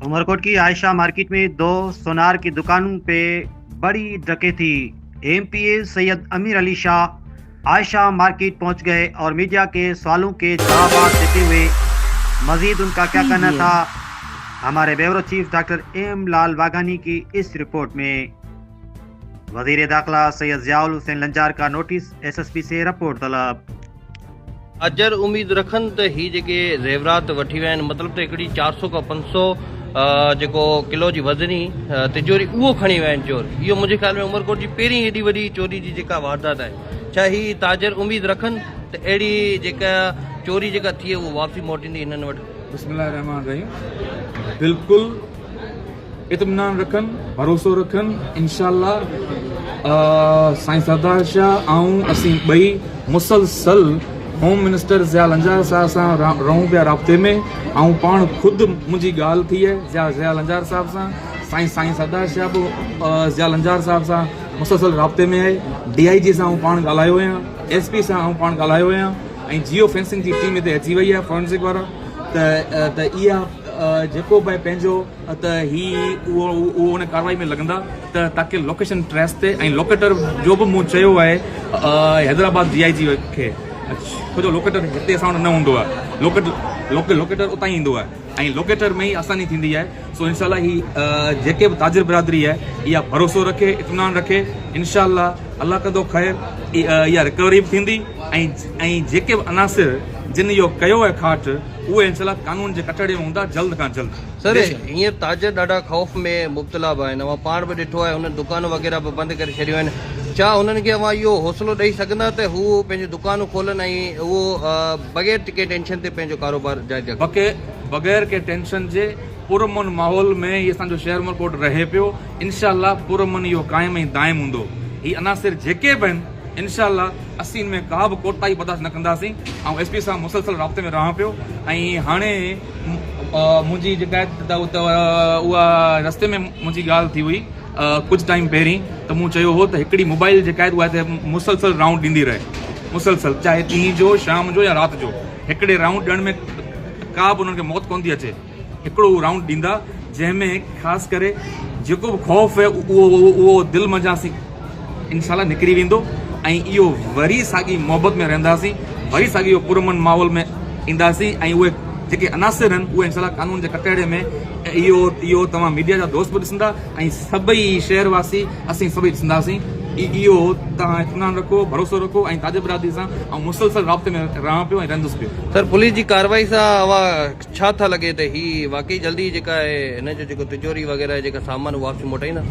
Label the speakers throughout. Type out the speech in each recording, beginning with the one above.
Speaker 1: عمرڪوٽ ڪي عائشه مارڪيٽ ۾ دو سونار ڪي دڪانون پي بڙي ڊڪيتي، M P A Syed Amir Ali Shah Ayesha market پهچ گئي اور ميڊيا ڪي سوالون ڪي جوابات ديتي هئي مزيد ان ڪا ڪيا ڪهنا ٿا هماري bureau chief doctor M Lal Waghani ڪي اس رپورٽ ۾ وزير داخله سيد ضياء الحسين لنجار ڪا نوٽيس ايس ايس پي سي رپورٽ طلب
Speaker 2: اجهر اميد رکن ته هي جيڪي زيورات وٺي ويا آهن مطلب ته هڪڙي چار سؤ کان پنج سؤ جيڪو ڪلو جي وزني تجوري اهو کڻي ويا آهن چور اهو منهنجي خيال ۾ عمرڪوٽ جي پهرين ايڏي وڏي چوري جي جيڪا واردات آهي ڇا هي تاجر اميد رکن ته اهڙي جيڪا چوري جيڪا ٿئي اهو واپسي موٽيندي هنن وٽ بسم الله الرحمٰن الرحيم
Speaker 3: بلڪل اطمينان رکن ڀروسو رکن انشاء الله سائين سردار شاھ آئون اسين ٻئي مسلسل ھوم منسٽر ضياء لنجار صاحب سان رھون پيا رابطي ۾ آئون پاڻ خود منھنجي ڳالھ ٿئي ضياء ضياء لنجار صاحب سان سائين سائين سردار شاھ به ضياء لنجار صاحب سان مسلسل رابطي ۾ آھي ڊي آئي جي سان آئون پاڻ ڳالھايو آھيان ايس پي سان آئون پاڻ ڳالھايو آھيان ۽ جيو فينسنگ جي ٽيم ھتي اچي وئي آھي فورنسڪ وارا ته ته اها جيڪو به پنهنجو ته هي اهو اهو ان ڪارروائي ۾ لڳندا ته تاڪه لوڪيشن ٽريس تي ۽ لوڪيٽر جو به مون چيو آهي حيدرآباد ڊي آء جي کي ڇو جو لوڪيٽر هتي اسان وٽ نه هوندو آهي لوڪيٽ لوڪيٽر اتان ئي ايندو آهي ۽ لوڪيٽر ۾ ئي آساني ٿيندي آهي سو انشاء الله هي جيڪي به تاجر برادري آهي اها ڀروسو رکي اطمينان رکي انشاء الله الله ڪندو خير اها رڪوري به ٿيندي ۽ ۽ جيڪي به عناصر جن اهو ڪيو آهي کاٽ اهي انسلاڪ قانون جي ڪٽهڙي ۾ هوندا جلد کان جلد سر هينئر
Speaker 2: تاجر ڏاڍا خوف ۾ مبتلا به آهن اوهان پاڻ به ڏٺو آهي هنن دڪانون وغيره به بند ڪري ڇڏيون آهن ڇا هنن کي اوهان اهو حوصلو ڏئي سگهندا ته هو پنهنجون دڪانون کولن ۽ اهو بغير ڪنهن ٽينشن تي پنهنجو ڪاروبار جاري رکن. بغير ڪنهن
Speaker 3: ٽينشن جي پر امن ماحول ۾ هي اسان جو شهر عمرڪوٽ رهي پيو انشاء الله پر امن اهو قائم ۽ دائم هوندو هي عناصر جيڪي به آهن. انشاء الله اسين ان ۾ ڪابه ڪوتاهي برداشت نه ڪنداسين، آئون ايس پي سان مسلسل رابطي ۾ رهان پيو ۽ هاڻي منهنجي جيڪا اها رستي ۾ منهنجي ڳالهه ٿي هئي ڪجهه ٽائيم پهرين ته مون چيو هو ته هڪڙي موبائل جيڪا اها هتي مسلسل رائونڊ ڏيندي رهي مسلسل چاهي ڏينهن جو شام جو يا رات جو هڪڙي رائونڊ ڏيڻ ۾ ڪابه انهن کي موت ڪونه ٿي اچي. هڪڙو رائونڊ ڏيندا جنهن ۾ خاص ڪري جيڪو به خوف هي اهو دل منجهان سين انشاء الله نڪري ويندو ۽ اهو وري ساڳي محبت ۾ رهنداسين وري ساڳي اهو پرامن ماحول ۾ اينداسين ۽ اهي جيڪي عناصر هن اهي انشاء الله قانون جي ڪٽهڙي ۾ اهو اهو توهان ميڊيا جا دوست به ڏسندا ۽ سڀئي شهر واسي اسين سڀئي ڏسنداسين اهو توهان اطمينان رکو ڀروسو رکو ۽ تاجر برادري سان آئون مسلسل رابطي ۾ رهان پيو ۽ رهندس پيو. سر پوليس جي ڪاروائي
Speaker 2: سان اوهان ڇا ٿا لڳي ته هي واقعي جلدي جيڪا آهي هن جو جيڪو تجوري وغيره جيڪا سامان واپسي موٽائيندا.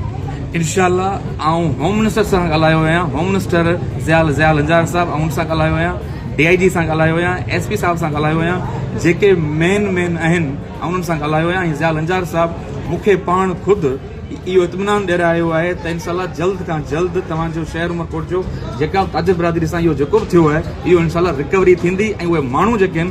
Speaker 2: انشاء الله
Speaker 3: آئون هوم منسٽر سان ڳالهايو آهيان هوم منسٽر ضيال ضيال لنجار صاحب آئون ان سان ڳالهايو آهيان ڊي آئي جي سان ڳالهايو آهيان ايس پي صاحب سان ڳالهايو آهيان جيڪي مين مين آهن آئون انهن سان ڳالهايو آهيان ۽ ضيال لنجار صاحب مون کي پاڻ خود اهو اطمينان ڏيرايو آهي ته انشاء الله جلد کان جلد توهان جو شهر عمرڪوٽ جو جيڪا به تاجر برادري سان اهو جيڪو به ٿيو آهي اهو انشاء الله رڪوري ٿيندي ۽ اهي ماڻهو جيڪي آهن